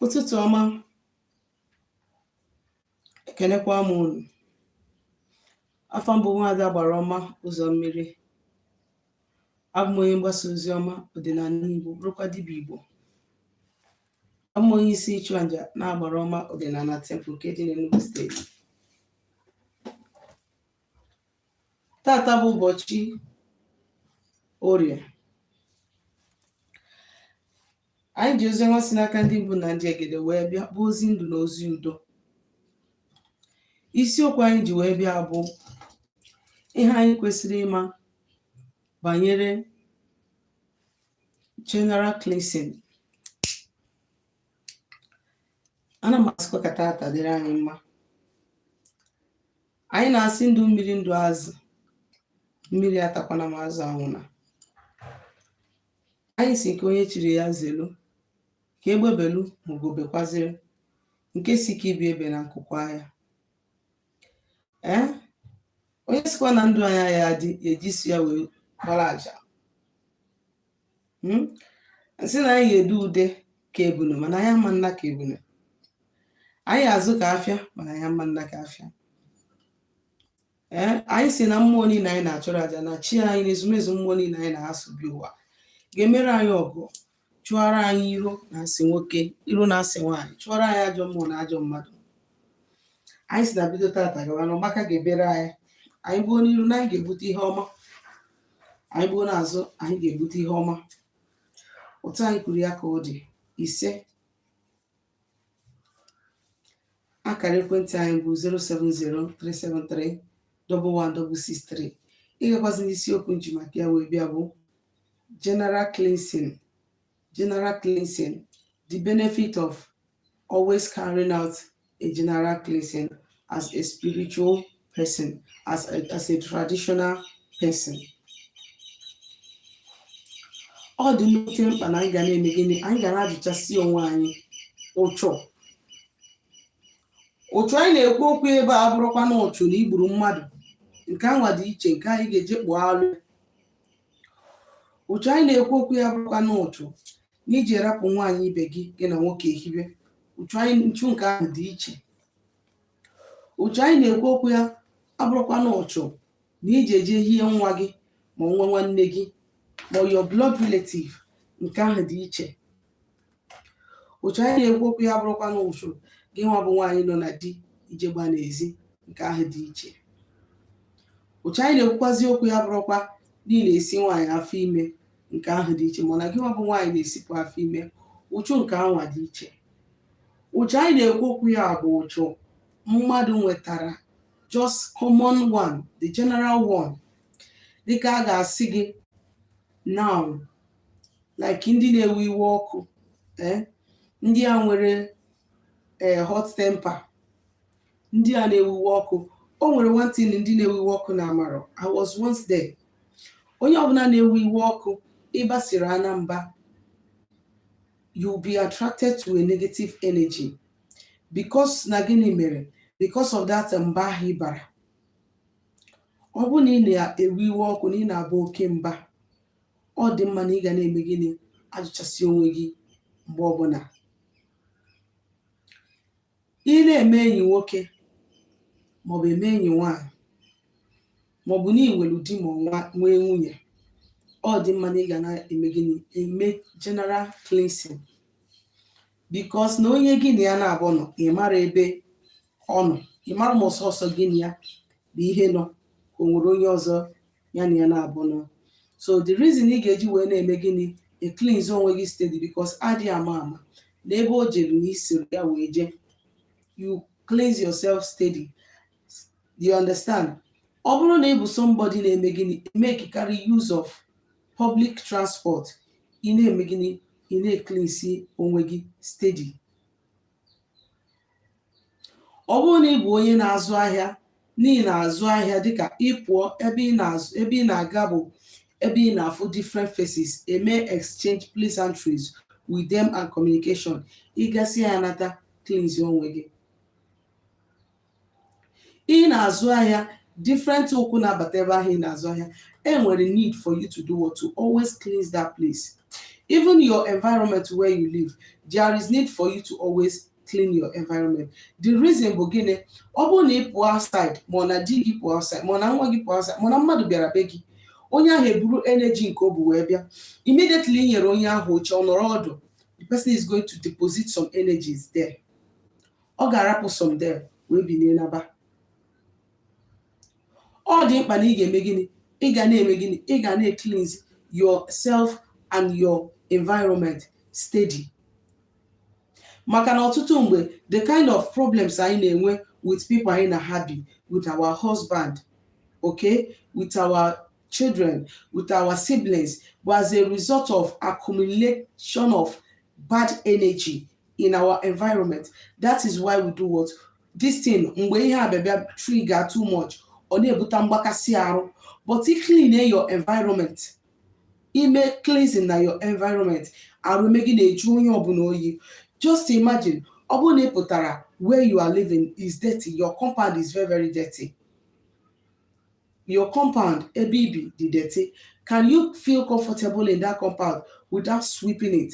ụtụtụ ọma ekenekwa m unu afa m bụ nwaada agbara ọma ụzọ mmiri abụ m onye mgbasa ozi ọma ọdịnala igbo bụrụkwa dibịa igbo abụ m onye isi ịchụaja n'agbara ọma ọdịnala temple nke dị n'Enugu steeti taata bụ ụbọchị orie anyị ji ozi ọma si n'aka ndị mbụ na ndị egede wee bịa bụ ozi ndụ na ozi udo isiokwu anyị ji wee bịa bụ ihe anyị kwesịrị ịma banyere general cleansing ana m asịkwa ka taata dịrị anyị mma anyị na-asị ndụ mmiri ndụ azụ mmiri atakwana ma azụ anwụna Anyị sị nke onye chiri ya zelu, ka egbe belu ma ugo bekwaziri, nke sị ka ibe ya ebena nku kwaa ya. Ee, onye sịkwa na ndụ anyị aya adị e ji isi ya wee gbara aja. Hmm? M sị na anyị ga-ede ude ka ebunu mana anyị ama naa ka ebunu. Anyị azụ ka afịa mana anyị ama naa ka afịa. ee anyị sị na mmụọ niile anyị na-achụrụ aja na chi anyị na ezumezu mmụọ niile anyị na ha so bịa ụwa ga-emere anyị ọgọ chụọrọ anyị iro na asị nwoke iro na asị nwaanyị chụọrọ anyị ajọ mmụọ na ajọ mmadụ anyị sị na bido taata gawa na ọgbaka ga-ebere anyị anyị gbuo n'iru na anyị ga-ebute ihe ọma anyị gbuo n'azụ anyị ga-ebute ihe ọma otu anyị kwuru ya ka ọ dị ise akara ekwentị anyị bụ 07037311663 ịgakwazi n'isiokwu m ji maka ya wee bịa bụ general cleansing general cleansing the benefit of always carrying out a general cleansing as a spiritual person, as a, as a traditional person. ọ dị nnukwu mkpa na anyị ga na-eme gịnị anyị ga na-ajụchasị onwe anyị ụchụ ụchụ anyị na-ekwu okwu ebe a abụrụkwa na ụchụ na i gburu mmadụ nke anwa dị iche nke anyị ga-eje kpụọ alụ ụchụ anyị na-ekwu okwu ya abụrụkwa na ụchụ na i ji rapụ nwaanyị ibe gị gị na nwoke ehibe ụchụ anyị nchu nke ahụ dị iche ụchụ anyị na-ekwu okwu ya abụrụkwa na ụchụ na i ji eje hie nwa gị ma nwa nwanne gị ma your blood relative nke ahụ dị iche ụchụ anyị na-ekwu okwu ya abụrụkwa na ụchụ gị nwa bụ nwaanyị nọ na di i je gbaa n'ezi nke ahụ dị iche ụchụ anyị na-ekwukwazi okwu ya abụrụkwa na ị na-esi nwaanyị afọ ime nke ahụ dị iche mana gị nwa bụ nwaanyị na-esipụ afọ ime ụchụ nke anwa dị iche ụchụ anyị na-ekwu okwu ya bụ ụchụ mmadụ nwetara just common one the general one dịka a ga-asị gị now like ndị na-ewe iwe ọkụ eh, ndị a nwere eh, hot temper ndị a na-ewe iwe ọkụ o nwere one thing ndị na-ewe iwe ọkụ na-amarọ i was once there onye ọbụla na-ewe iwe ọkụ ị basịrị ana mba you will be attracted to a negative energy because na gịnị mere because of that mba ahụ ị bara ọ bụrụ na ị na-ewe iwe ọkụ na ị na-aba oke mba ọ dị mma na ị ga na-eme gịnị ajụchasị onwe gị mgbe ọbụla Ị na-eme enyi nwoke maọbụ eme enyi nwaanyị maọbụ na ị nwere di ma ọ nwee nwunye, ọ dị mma na ị ga na-eme gịnị? Eme general cleansing because na onye gị na ya naabọ nọ, ị marọ ebe ọ nọ, ị marọ ma ọ sọsọ gị na ya bụ ihe nọ ka o nwere onye ọzọ ya na ya naabọ nọ so the reason ị ga-eji wee na-eme gịnị ecleanse onwe gị steady because adị ama ama na ebe o jere na i soro ya wee jee you cleanse yourself steady do you understand ọ bụrụ na ị bụ somebody na-eme gịnị emekarị use of public transport ị na-eme gịnị ị na-ecleanse onwe gị steady ọ bụrụ na ị bụ onye na-azụ ahịa na ị na-azụ ahịa dịka ị pụọ ebe ị na-aga bụ ebe ị na-afụ different faces eme exchange pleasantries with them and communication ị gasịa ya nata cleanse onwe gị ị na-azụ ahịa different ụkwụ na-abata ebe ahụ ị na-azụ ahịa e nwere need for you to do what to always cleanse that place even your environment where you live there is need for you to always clean your environment the reason bụ gịnị ọ bụrụ na ị pụọ outside ma ọ na di gị pụọ outside ma ọ na nwa gị pụọ outside ma ọ na mmadụ bịara be gị onye ahụ eburu energy nke o bu wee bịa immediately i nyere onye ahụ oche ọ nọrọ ọdụ the person is going to deposit some energies there ọ ga-arapụ some there wee binie naba ọ dị mkpa na ị ga-eme gịnị ị ga na-eme gịnị ị ga na-ecleanse yourself and your environment steady maka na ọtụtụ mgbe the kind of problems anyị na-enwe with people anyị na ha bi with our husband okay with our children with our siblings bụ as a result of accumulation of bad energy in our environment that is why we do what this thing mgbe ihe a bịa bịa trigger too much ọ na-ebute mgbakasị arụ but ị clean your environment ime cleansing na your environment arụ ime gị na-eju onye ọbụla oyi just imagine ọ bụrụ na ị pụtara where you are living is dirty your compound is very very dirty your compound ebe i bi dị dirty can you feel comfortable in that compound without sweeping it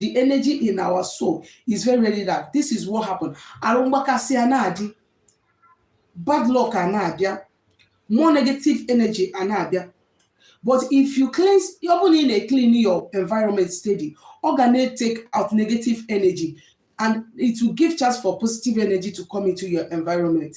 the energy in our soul is very very dark this is what happened arụ mgbakasị a na-adị bad luck a na-abịa more negative energy a na-abịa but if you cleanse ọ bụrụ na ị na-eclean your environment steady ọ ga na-etake out negative energy and it will give chance for positive energy to come into your environment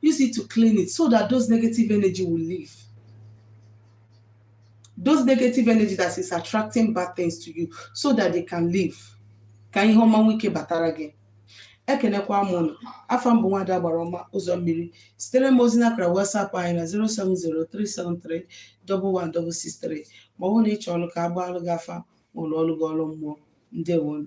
Use it to clean it so that those negative energy will leave. Those negative energy that is attracting bad things to you so that they can leave. Ka ihe ọma nwee ike batara gị. ekenekwa m ụnụ afa m bụ Nwada Agbara Ọma Ụzọ Mmiri zitere m ozi n'akara WhatsApp anyị na 07037311663 ma ọ bụrụ na ị chọrọ ka a gbaalụ gị afa ma lụọlụ gị ọrụ mmụọ ndewonu